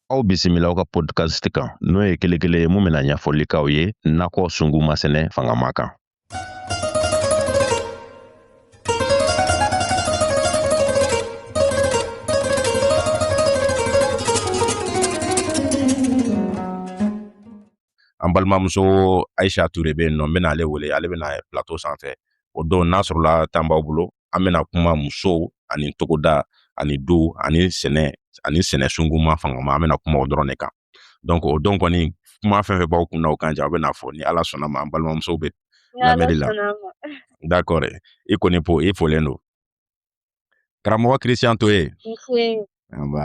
Aw bisimila aw ka podcast kan n'o ye kelenkelen ye mun bɛna ɲɛfɔli k'aw ye nakɔ sunguma sɛnɛ fangama kan. an balimamuso ayisa ture bɛ yen nɔ n bɛna ale wele ale bɛna plateau sanfɛ o don n'a sɔrɔla tan b'aw bolo an bɛna kuma musow ani togoda ani du ani sɛnɛ ani sɛnɛ sunguma fangama an bɛna kuma o dɔrɔn de kan donc o don kɔni kuma fɛn fɛn b'aw kunna o kan ja aw bɛna fɔ ni ala sɔnn'a ma an balimamusow bɛ lamɛnni la d'accord i kɔni fo i folen don karamɔgɔ christian toye nba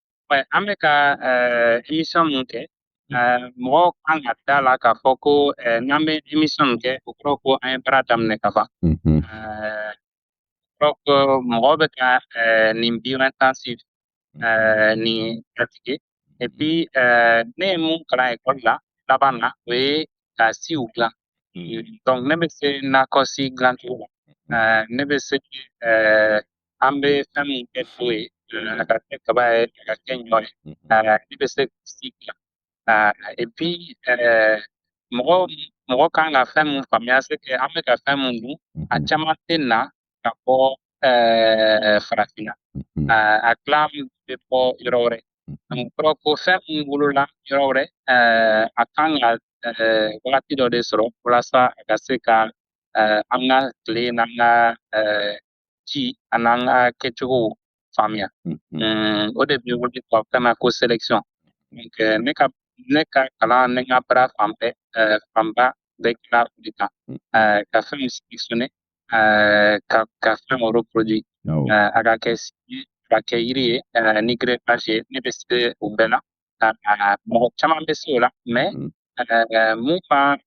an bɛ ka émission min kɛ mɔgɔw kan ka da a la k'a fɔ ko n'an bɛ émission min kɛ o kɔrɔ ko an ye baara daminɛ ka ban mɔgɔw bɛ ka nin bio intensif nin pratike epi ne ye mun kalan ekɔli la laban na o ye ka siw dilan donc ne bɛ se nakɔsi dilancogo la ne bɛ se an bɛ fɛn min kɛ to ye a ka kɛ kaba ye a ka kɛ ɲɔ ye ne bɛ se ka si dilan epi mɔgɔ mɔgɔ kan ka fɛn min faamuya c'est que an bɛ ka fɛn min dun a caman tɛ na ka bɔ farafinna a tila bɛ bɔ yɔrɔ wɛrɛ kɔrɔ ko fɛn min wolola yɔrɔ wɛrɛ a kan ka wagati dɔ de sɔrɔ walasa a ka se ka an ka tile n'an ka ji an'an ka kɛcogo faamuya o de bɛ wele tubabukan na ko selection ne ka ne ka kalan ne ka baara fan bɛɛ fanba bɛ kɛla o de kan ka fɛnw selectionné ka ka fɛnw reproduit a ka kɛ ka kɛ yiri ye ni greffage ye ne bɛ se o bɛɛ la mɔgɔ caman bɛ se o la mais mun ka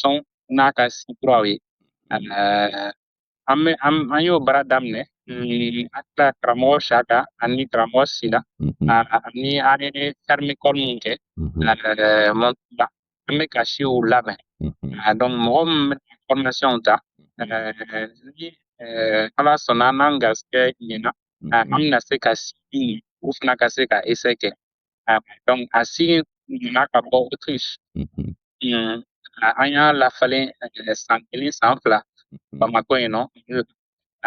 sɔn n'a ka suturaw ye an bɛ an y'o baara daminɛ mm, an tila karamɔgɔ siaka ani karamɔgɔ sila mm-hmm. ani an ye ferme école min kɛ mm-hmm. an bɛ ka siw labɛn mm-hmm. donc mɔgɔ min bɛna formation ta ni ala sɔnna n'an garisɛgɛ ɲɛna an bɛna se ka si u fana ka se ka essai kɛ Ah, donc a si in nana ka bɔ Autriche. Mhm. Mm, ah, an y'a lafalen eh, san kelen san fila mhm. Bamakɔ yen nɔ.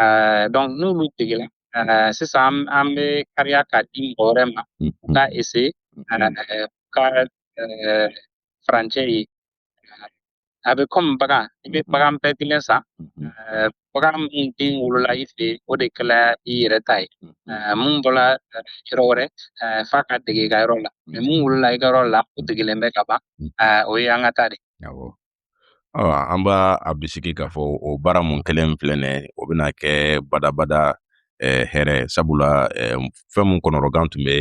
Eh, donc n'olu degela eh, sisan an bɛ kariya k'a di mɔgɔ wɛrɛ ma u mhm. k'a essayer k'a furancɛ ye. a bɛ kɔmi bagan i bɛ bagan bɛɛ kelen san bagan min den wolola i fɛ o de kɛla i yɛrɛ ta ye mun bɔra yɔrɔ wɛrɛ f'a ka dege i ka yɔrɔ la mɛ min wolola i ka yɔrɔ la o degelen bɛ ka ban o ye an ka ta de an b'a bisigi k'a fɔ o baara mun kɛlen filɛ nin ye o bɛna kɛ badabada hɛrɛ sabula fɛn mun kɔnɔrɔgan tun bɛ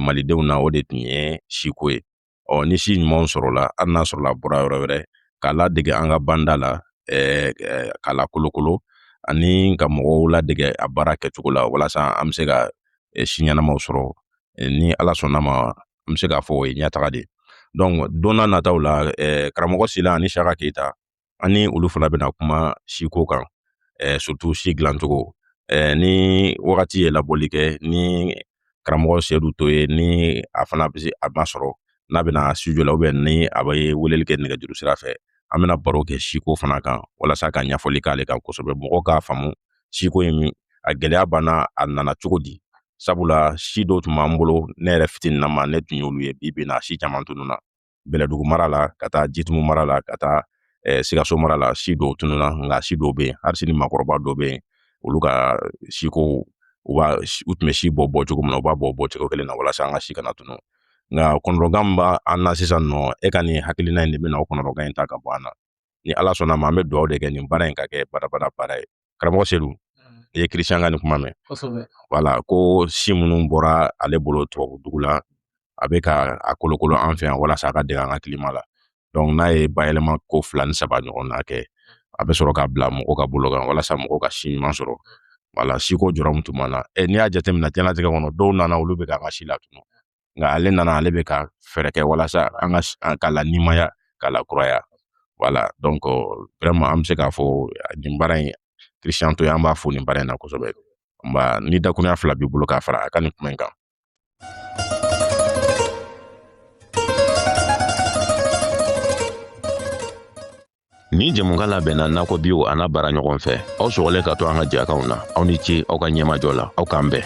malidenw na o de tun ye siko ye ɔ ni si ɲumanw sɔrɔla hali n'a sɔrɔla a bɔra yɔrɔ wɛrɛ k'a ladege an ka banda la k'a lakolokolo ani ka mɔgɔw ladege a baara kɛcogo la walasa an bɛ se ka si ɲɛnamaw sɔrɔ ni ala sɔnna ma an bɛ se k'a fɔ o ye ɲɛtaga de ye donc don nataw la karamɔgɔ sila ani shaka keyita an ni olu fana bɛna kuma siko kan eh, surtout si dilancogo eh, ni wagati ye labɔli kɛ ni karamɔgɔ sedu to ye ni a fana bɛ a masɔrɔ n'a bɛna studio la ubiyɛn ni a bɛ weleli kɛ nɛgɛjuru sira fɛ an bɛna baro kɛ siko fana kan walasa ka ɲɛfɔli k'ale kan kosɛbɛ mɔgɔw k'a faamu siko ye min a gɛlɛya banna a nana cogo di sabula si dɔw tun b'an bolo ne yɛrɛ fitininnama ne tun y'olu ye bi bi na si caman tununna bɛlɛdugu mara la ka taa jitumu mara la ka taa eh, sikaso mara la si dɔw tununa nka si dɔw bɛ yen hali sini makɔrɔba dɔw bɛ yen olu ka siko u b'a u tun bɛ si bɔ bɔ cogo min na u b'a bɔ bɔ cogo kelen na walasa an ka si kana tunu nka kɔnɔrɔgan min b'an na sisan nɔ e ka nin hakilina in de bɛna o kɔnɔrɔgan in ta ka bɔ an na ni ala sɔnna ma an bɛ dugawu de kɛ nin baara in ka kɛ badabada baara ye karamɔgɔ sedu mm. i ye christian ka nin kuma mɛn wala ko si minnu bɔra ale bolo tubabu dugu la a bɛ ka a kolokolo an fɛ yan walasa a ka dege an ka kilima la donc n'a ye bayɛlɛma ko fila ni saba ɲɔgɔn na kɛ a bɛ sɔrɔ ka bila mɔgɔw ka bolo kan walasa mɔgɔw ka si ɲuman sɔrɔ wala siko jɔrɔ min tun b'an na e n'i y'a jateminɛ jɛnatigɛ kɔnɔ dɔw nana olu bɛ ka an ka si latunu nka ale nana ale bɛ ka fɛɛrɛ kɛ walasa an ka k'a lanimaya k'a lakuraya wala donc vraiment an bɛ se k'a fɔ nin baara in christian to ye an b'a fo nin baara in na kosɛbɛ nba ni dakuruɲa fila b'i bolo k'a fara a ka nin kuma in kan Nin jɛmukan labɛnna nakɔ biw an'a baaraɲɔgɔnw fɛ aw sɔgɔlen ka to an ka jɛkanw na aw ni ce aw ka ɲɛmajɔ la aw k'an bɛn